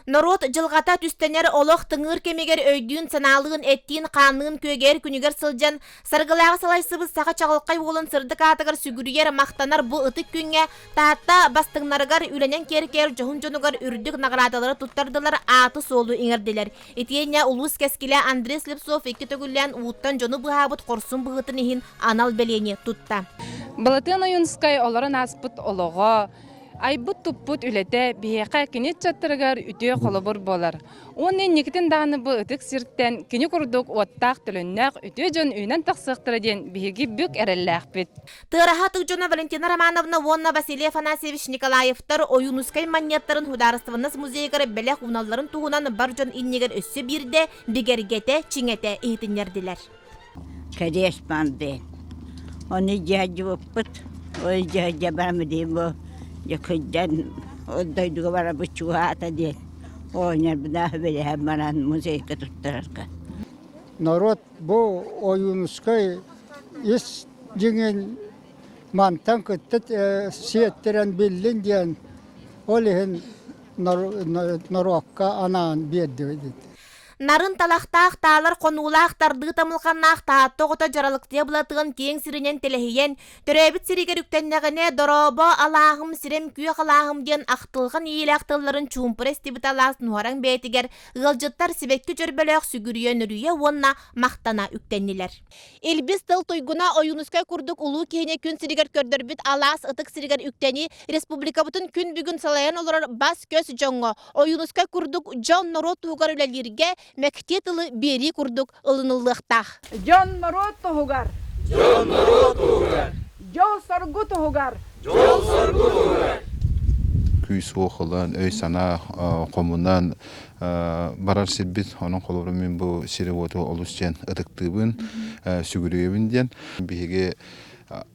Норуот дьылҕата түстэнэр олох тыҥыыр кэмигэр өйдүүн-санаалыын, эттиин-хаанныын күөгэр күнүгэр сылдьан, саргылааҕы салайсыбыт саха чаҕылхай уолун сырдык аатыгар сүгүрүйэр, махтанар бу ытык күҥҥэ Таатта бастыҥнарыгар үлэнэн киэркэйэр дьоһун дьонугар үрдүк наҕараадалары туттардылар, ааты-суолу иҥэрдилэр. Итиэннэ улуус кэскилэ Андрей Слепцов икки төгүллээн ууттан дьону быһаабыт хорсун быһыытын иһин анал бэлиэни тутта. Балатыан Ойуунускай олорон ааспыт олоҕо, Айбыт-туппут үлэтэ биһиэхэ кини ыччаттарыгар үтүө холобур буолар. Уонна инникитин даҕаны бу ытык сиртэн кини курдук уоттаах төлөннөөх үтүө дьон үүнэн тахсыахтара диэн биһиги бүк эрэллээхпит. Тыараһаат Дьоно Валентина Романовна уонна Василий Афанасьевич Николаевтар Ойуунускай манньыаттарын Судаарыстыбаннас музейыгар бэлэх ууналларын туһунан бар дьон иннигэр өссө биирдэ бигэргэтэ, чиҥэтэ иһитиннэрдилэр. Кэриэс панды. Ону дьаадьыбыппыт, ол дьаадьабаамыдыын бу дьэкыйдан ол дойдуга барабыт чугаһаата диэн оонньорбунаах үбүлэһэн баран музейга туттарарга. Норуот бу Ойуунускай ис дьиҥин мантан кытта сиэттэрэн биллин диэн ол иһин норуокка анаан биэрдибит. Нарын талахтаах таалар хонуулаах тардыы тамылҕаннаах таатта оҕото дьаралыктыа былатыан киэҥ сиринэн тэлэһийэн, төрөөбүт сиригэр үктэннэҕинэ, дорообо, алааһым, сирем күөх алааһым диэн ахтылҕан иилээх тылларын чуумпура истибит алаас нуһараҥ бэйэтигэр ыалдьыттар сибэкки чөрбөлөөх сүгүрүйэ нөрүйэ уонна махтана үктэннилэр. Илбис тыл туйгуна Ойуунускай курдук улуу киһини күн сиригэр көрдөрбүт алаас ытык сиригэр үктэнии республикабытын күн бүгүн салайан олорор бас-көс дьоҥҥо, Ойуунускай курдук дьон-норуот туһугар үлэлииргэ мэктиэ тылы биэрии курдук ылыныллыахтаах. Дьон-норуот туһугар. Дьон-норуот туһугар. Дьол-соргу туһугар. Дьол-соргу туһугар. Күүс-уох ылан, өй-санаа хомунан барар сирбит онон холобур мин бу сири-уоту олус диэн ытыктыыбын сүгүрүйэбин диэн биһиги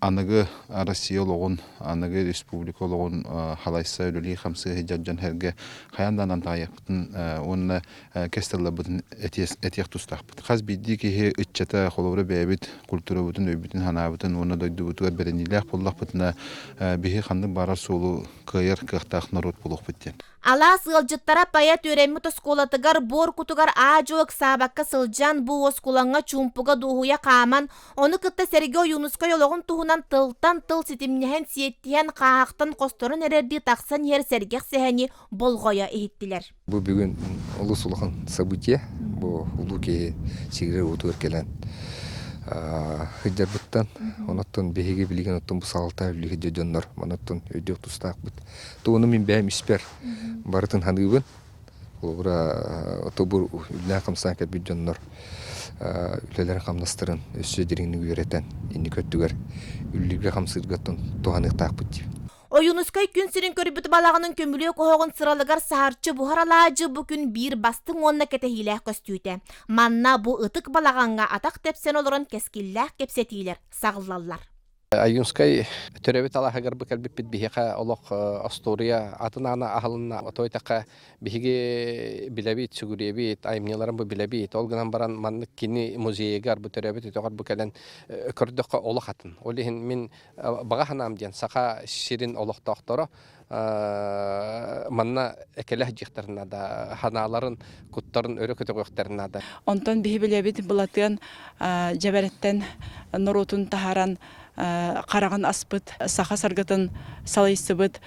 аныгы Россия олоҕун аныгы республика олоҕун халайса үлэлии хамсыы сылдьар дьон сэргэ хайаан да анан таайыахпытын уонна кэс тылларбытын этиэх тустаахпыт хас биирдии киһи ыччата холобура бэйэбит культурабытын өйбүтүн санаабытын уонна дойдубутугар бэриниилээх буоллахпытына биһи ханнык баарар суолу кыайар кыахтаах норуот буолуохпут диэн Алаас ыалдьыттара Пайа Түөрэммит оскуолатыгар буор кутугар аа-дьуо ыксаабакка сылдьан, бу уоскулаҥҥа чуумпуга дуоһуйа хааман, ону кытта сэргэ Ойуунускай олоҕун туһунан тылтан тыл ситимнэһэн, сиэттиһэн, хааһахтан хосторон эрэрдии тахсан иһэр сэргэх сэһэни болҕойо иһиттилэр. Бу бүгүн олус улахан событие. Бу улуу киһи сигирэ-уотугар кэлэн сылдьарбыттан, онуттан биһиги билигин оттон бу салалта үлүһүйдэ дьоннор, маныттан өйдүөх тустаахпыт. Туону мин бэйэм испэр барытын саныыбын. Холобура тобур үллээн хамсаан кэлбит дьоннор үлэлэрин-хамнастарын өссө дириҥник үөрэтэн инники өттүгэр үллүүргэ-хамсыыргаттан туһаныахтаахпыт дии. Ойуунускай күн сирин көрбүт балаҕанын көмүлүөк оһоҕун сыралыгар саһарчы буһар алаадьы бу күн биир бастыҥ уонна кэтэһиилээх көстүүтэ. Манна бу ытык балаҕаҥҥа атах тэпсэн олорон кэскиллээх кэпсэтиилэр саҕыллаллар. Айюнскай төрөбүт алааһыгар бу кэлбиппит биһиэхэ олох остуоруйа атын аана аһылынна. Отой такка биһиги билэбит, сүгүрүйэбит, аймньыларын бу билэбит. Ол гынан баран маннык кини музейыгар бу төрөбүт үтөҕөр бу кэлэн көрдөххө олох атын. Ол иһин мин баҕа ханаам диэн саха сирин олохтоохторо манна экелэх дьиэхтэр наада ханааларын куттарын өрө көтөҕүөхтэр наада онтон биһи билэбит былатыан дьэбэрэттэн норуотун таһаран хараҕын аспыт саха саргытын салайсыбыт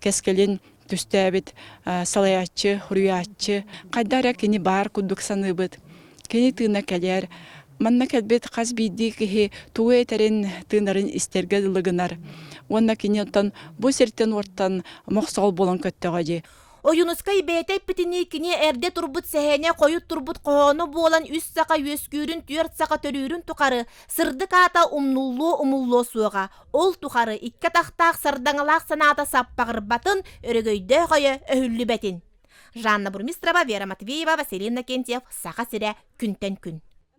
кэскилин түстээбит салайааччы хуруйааччы хайда эрэ кини баар курдук саныыбыт Кини тыына кэлэр. Манна кэлбит хас биирдии киһи тугу этэрин, тыынарын истэргэ дылы гынар. Уонна кини оттон бу сиртэн-уоттан мохсоҕол буолан көттөҕө дии. Ойуунускай бэйэтэ эппитинии кини эрдэ турбут сэһээнэ хойут турбут хоһооно буолан үс саха үөскүүрүн түөрт саха төрүүрүн тухары сырдык аата умнуллуо умуллуо суоҕа. Ол тухары икки атахтаах сардаҥалаах санаата саппаҕырбатын, өрөгөйдөөх өйө өһүллүбэтин. жанна бурмистрова вера матвеева василий иннокентьев саха сирэ күнтэн күн